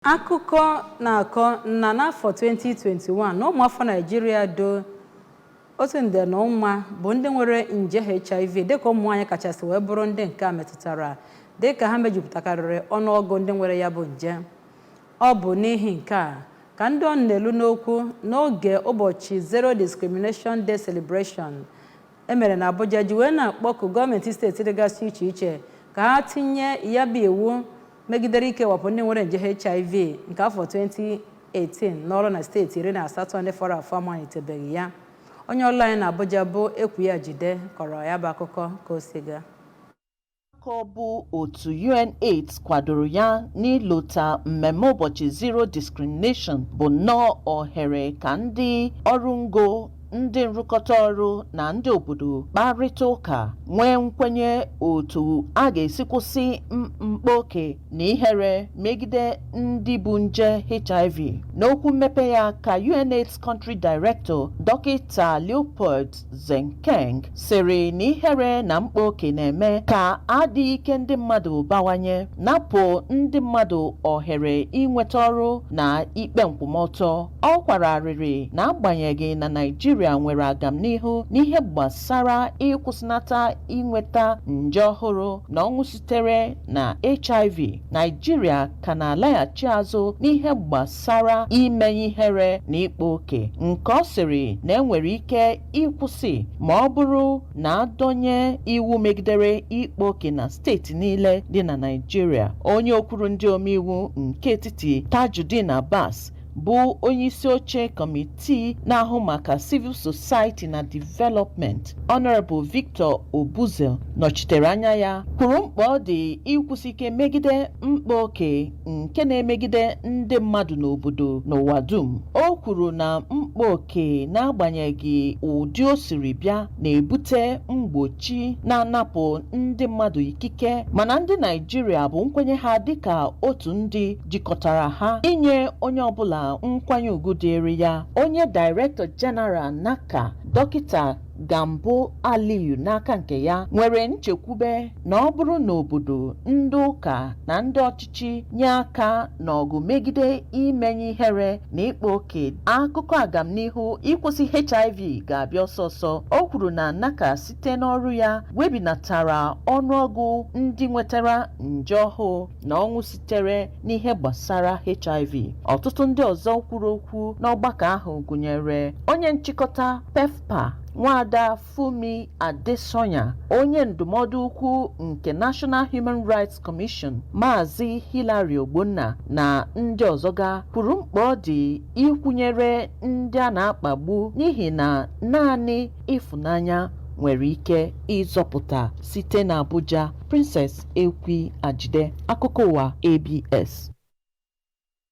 Akụkọ na-akọ na n'afọ 2021 na ụmụafọ Naịjirịa dị otu nde na ụma bụ ndị nwere nje HIV dịka ụmụ nwaanyị kachasị wee bụrụ ndị nke a metụtara dịka ha mejupụtakarịrị ọnụọgụ ndị nwere ya bụ nje. Ọ bụ n'ihi nke a ka ndị ọnụ na-elu n'okwu n'oge ụbọchị Zero Discrimination Day Celebration e mere n'Abuja ji wee na-akpọku gọọmenti steeti dịgasị iche iche ka ha tinye ya bụ iwu megidere ikewapụ ndị nwere nje HIV nke afọ 2018 n'ọrụ na steeti iri na asatọ ndị fọrọ afọ amalitebeghị ya onye ọrụ anyị na Abuja bụ Ekwi Ajide kọrọ ya bụ akụkọ ka o si gaa ka ọ bụ otu UNAIDS kwadoro ya n'ilota mmemme ụbọchị Zero Discrimination bụ nnọọ ohere ka ndị ọrụ ngo ndị nrụkọta ọrụ na ndị obodo kparịta ụka nwee nkwenye otu a ga-esi kwụsị mkpa oke na ihere megide ndị bu nje HIV. N'okwu mmepe ya ka UNAIDS Country Director Dọkịta Leopold Zenkeng sịrị na ihere na mkpa oke na-eme ka adịghị ike ndị mmadụ bawanye napụ ndị mmadụ ohere inweta ọrụ na ikpe nkwụmọtọ Ọ kwara arịrị na agbanyeghị na Naịjirịa nwere agamnihu n'ihe gbasara ịkwụsịnata inweta nje ọhụrụ na ọnwụ sitere na HIV, Naịjirịa ka na-alaghachi azụ n'ihe gbasara imenye ihere na ịkpa oke nke ọ sịrị na e nwere ike ịkwụsị ma ọ bụrụ na a dọnye iwu megidere ịkpa oke na steeti niile dị na Naịjirịa. Onye okwuru ndị omeiwu nke etiti Tajudeen Abbas bụ onyeisi oche kọmitii na-ahụ maka civil society na development Honorable Victor Obuzor nọchitere anya ya kwuru mkpa ọ dị ịkwụsi ike megide mkpa oke nke na-emegide ndị mmadụ n'obodo n'ụwa dum o kwuru na mkpa oke n'agbanyeghị ụdị o siri bịa na-ebute mgbochi na-anapụ ndị mmadụ ikike mana ndị Naịjirịa bụ nkwenye ha dịka otu ndị jikọtara ha inye onye ọbụla nkwanye ugwu dịịrị ya onye Director General NACA dọkịta Gambo Aliyu n'aka nke ya nwere nchekwube na ọ bụrụ na obodo ndị ụka na ndị ọchịchị nye aka n'ọgụ megide imenye ihere na ịkpa oke akụkọ agamnihu ịkwụsị HIV ga-abịa ọsọ ọsọ o kwuru na NACA site n'ọrụ ya webinatara ọnụọgụ ndị nwetara nje ọhụụ na ọnwụ sitere n'ihe gbasara HIV ọtụtụ ndị ọzọ kwuru okwu n'ọgbakọ ahụ gụnyere onye nchịkọta PEPFAR nwaada Funmi Adesanya onye ndụmọdụ ukwu nke National Human Rights Commission Maazị Hilary Ogbonna na ndị ọzọ ga kwuru mkpa ọ dị ịkwụnyere ndị a na-akpagbu n'ihi na naanị ịfụnanya nwere ike ịzọpụta site n'Abuja Princess Ekwi Ajide, Akụkọ Ụwa ABS.